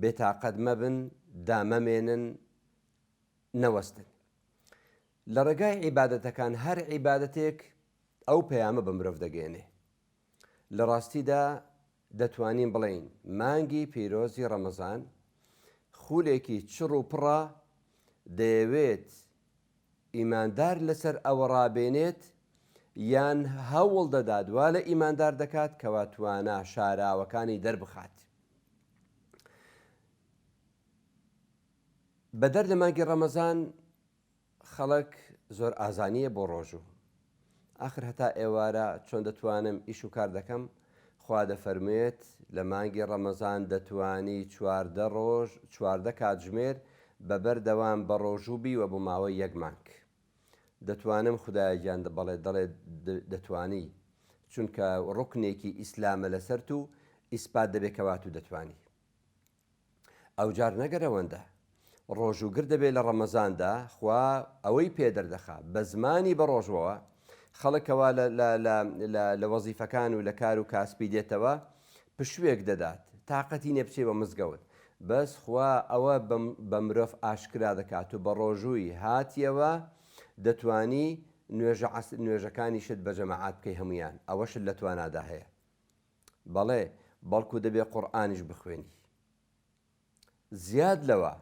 بێتاقەت مەبن، دامەمێنن، نەوەستن لە ڕێگای عیبادەتەکان، هەر عیبادەتێک ئەو پەیامە بە مرۆڤ دەگەێنێ. لە ڕاستیدا دەتوانین بڵین مانگی پیرۆزی ڕەمەزان خولێکی چڕ و پڕە دەیەوێت ئیماندار لەسەر ئەوە ڕابێنێت یان هەوڵ دەدات وا لە ئیماندار دەکات کەوا توانا شاراوەکانی دەربخات. بەدەر لە مانگی ڕەمەزان خەڵک زۆر ئازانییە بۆ ڕۆژوو ئاخر هەتا ئێوارە چۆن دەتوانم ئیش و کار دەکەم؟ خوا دەفەرموێت، لە مانگی ڕەمەزان دەتوانی چواردە ڕۆژ، چواردە کاتژمێر، بە بەر دەوام بە ڕۆژوو بیوە بۆ ماوەی یەک مانگ. دەتوانم خودا گیان بەڵێ دەڵێت دەتوانی چونکە ڕوکنێکی ئیسلامە لەسەرت و ئیسپات دەبێت کەواتو دەتوانی. ئەوجار نەگەر ئەوەندە ڕۆژ و گر دەبێ لە ڕەمەزاندا خوا ئەوەی پێ دەردەخا بە زمانی بە ڕۆژەوە خەڵکەوە لە وەزیفەکان و لە کار و کاسپی دێتەوە پشوێک دەدات تااقەتی نێ بچێ بە مزگەوت بەس خوا ئەوە بە مرۆڤ ئاشکرا دەکات و بە ڕۆژووی هاتیەوە دەتانی نوێژە عس نوێژەکانیشت بە جەماعات بکەی هەمویان ئەوەشت لە توانادا هەیە بەڵێ بەڵکو دەبێ قورئانیش بخوێنی زیاد لەوە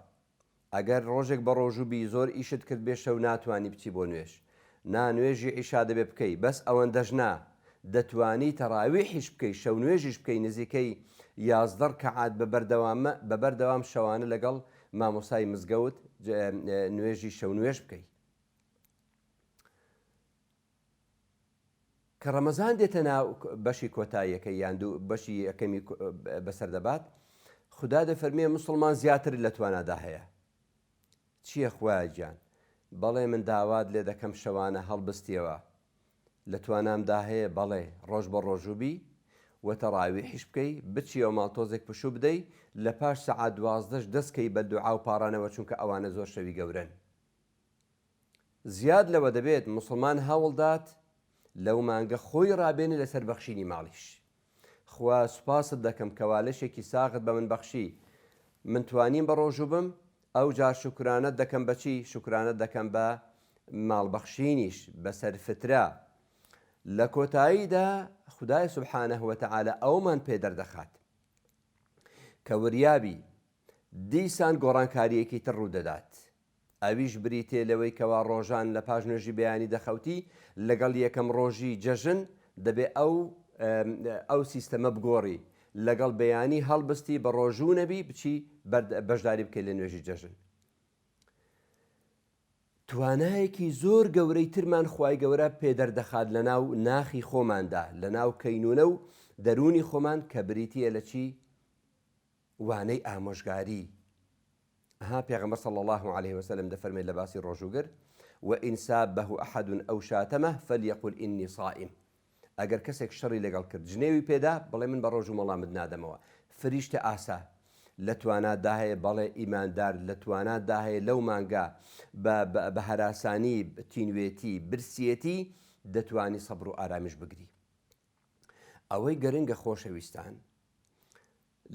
ئەگەر ڕۆژێک بە ڕۆژوو بی زۆر ئیشت کرد بێ شەو ناتوانانی بچی بۆ نوێژ نا نوێژی عیشا دەبێ بکەی بەس ئەوەندەش نا دەتوانی تەراویحیش بکەی شەو نوێژیش بکەی نزیکەی یازدە ڕکەعات بە بەردەوامە بە بەردەوام شەوانە لەگەڵ مامۆسای مزگەوت نوێژی شەو نوێژ بکەی کە ڕەمەزان دێتە ناو بەشی کۆتاییەکەی یان دوو بەشی یەکەمی بەسەر دەبات خدا دەفەرمێ مسلمان زیاتر لە توانادا هەیە چییە خوایە گیان بەڵێ من داوات لێ دەکەم شەوانە هەڵبستیەوە لە توانامدا هەیە بەڵێ ڕۆژ بە ڕۆژوبی و تەڕاوی حیش بکەی بچیەوە ماڵ تۆزێک پشوو بدەی لە پاش سەعات دوازدەش دەستکەی بە دوعا و پاڕانەوە چونکە ئەوانە زۆر شەوی گەورەن زیاد لەوە دەبێت موسڵمان هەوڵدات لەو مانگە خۆی ڕابێنێ لەسەر بەخشینی ماڵیش خوا سوپاست دەکەم کەوا لەشێکی ساغت بە من بەخشی من توانیم بە ڕۆژوو بم ئەو جار شکرانت دەکەم بەچی شکرانت دەکەم بە ماڵبەخشینیش بەسەر فترە لە کۆتاییدا خدای سبحانە هوتەعاالە ئەومان پێ دەردەخات کە وریابی دیسان گۆڕانکارییەکی تر ڕوودەدات، ئەویش بریتییە لەوەی کەوا ڕۆژان لە پاش نوێژی بەیانی دەخەوتی، لەگەڵ یەکەم ڕۆژی جەژن دەبێ ئەو ئەو سیستەمە بگۆڕی، لەگەڵ بەیانی هەڵبستی بە ڕۆژوو نەبی بچی بەشداری بکەی لە نوێژی جەژن. توانایەکی زۆر گەورەی ترمان خوای گەورە پێ دەردەخات لە ناو ناخی خۆماندا، لە ناو کەینونە و دەروونی خۆمان کە بریتییە لە چی؟ وانەی ئامۆژگاری، ئەها پێغەمبەر صلی اللە علیە وسلم دەفەرمێت لە باسی ڕۆژووگر، وان سابه احد او شاتمه فلیقل انی صائم، ئەگەر کەسێک شەڕی لەگەڵ کرد جنێوی پێدا بڵێ من بە ڕۆژووم وەڵامت نادەمەوە، فریشتە ئاسا، لە توانا داهەیە، بەڵێ ئیماندار لە توانا داهەیە لەو مانگە بە بە هەراسانی، تینوێتی، برسیەتی، دەتوانی سەبر و ئارامیش بگری. ئەوەی گرنگە خۆشەویستان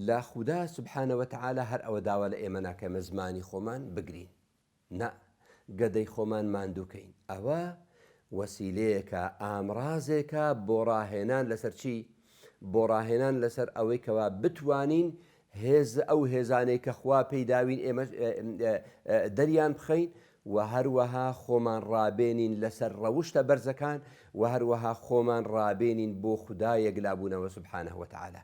لە خودا سبحانە وتعالی هەر ئەوە داوا لە ئێمە ناکە مە زمانی خۆمان بگرین نا گەدەی خۆمان ماندووکەین ئەوە وەسیلەیەکە ئامرازێکە بۆ ڕاهێنان لەسەر چی بۆ ڕاهێنان لەسەر ئەوەی کەوا بتوانین هێز ئەو هێزانەی کە خوا پێی داوین ئێمەش دەریان بخەین و هەروەها خۆمان ڕابێنین لەسەر ڕەوشتە بەرزەکان و هەروەها خۆمان ڕابێنین بۆ خدایەک لابوونەوە سبحانە وتعاالە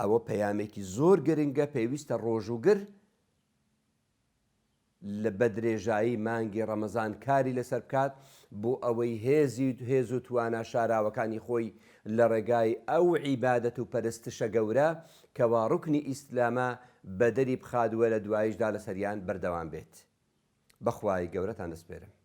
ئەوە پەیامێکی زۆر گرنگە پێویستە ڕۆژوگر بە درێژایی مانگی ڕەمەزان کاری لەسەر بکات بۆ ئەوەی هێزی هێز و توانا شاراوەکانی خۆی لە ڕێگای ئەو عیبادەت و پەرستشە گەورە کەوا ڕوکنی ئیسلامە بەدەری بخات وە لە دوایشدا لەسەریان بەردەوام بێت بەخوای گەورەتان دەسپێرم.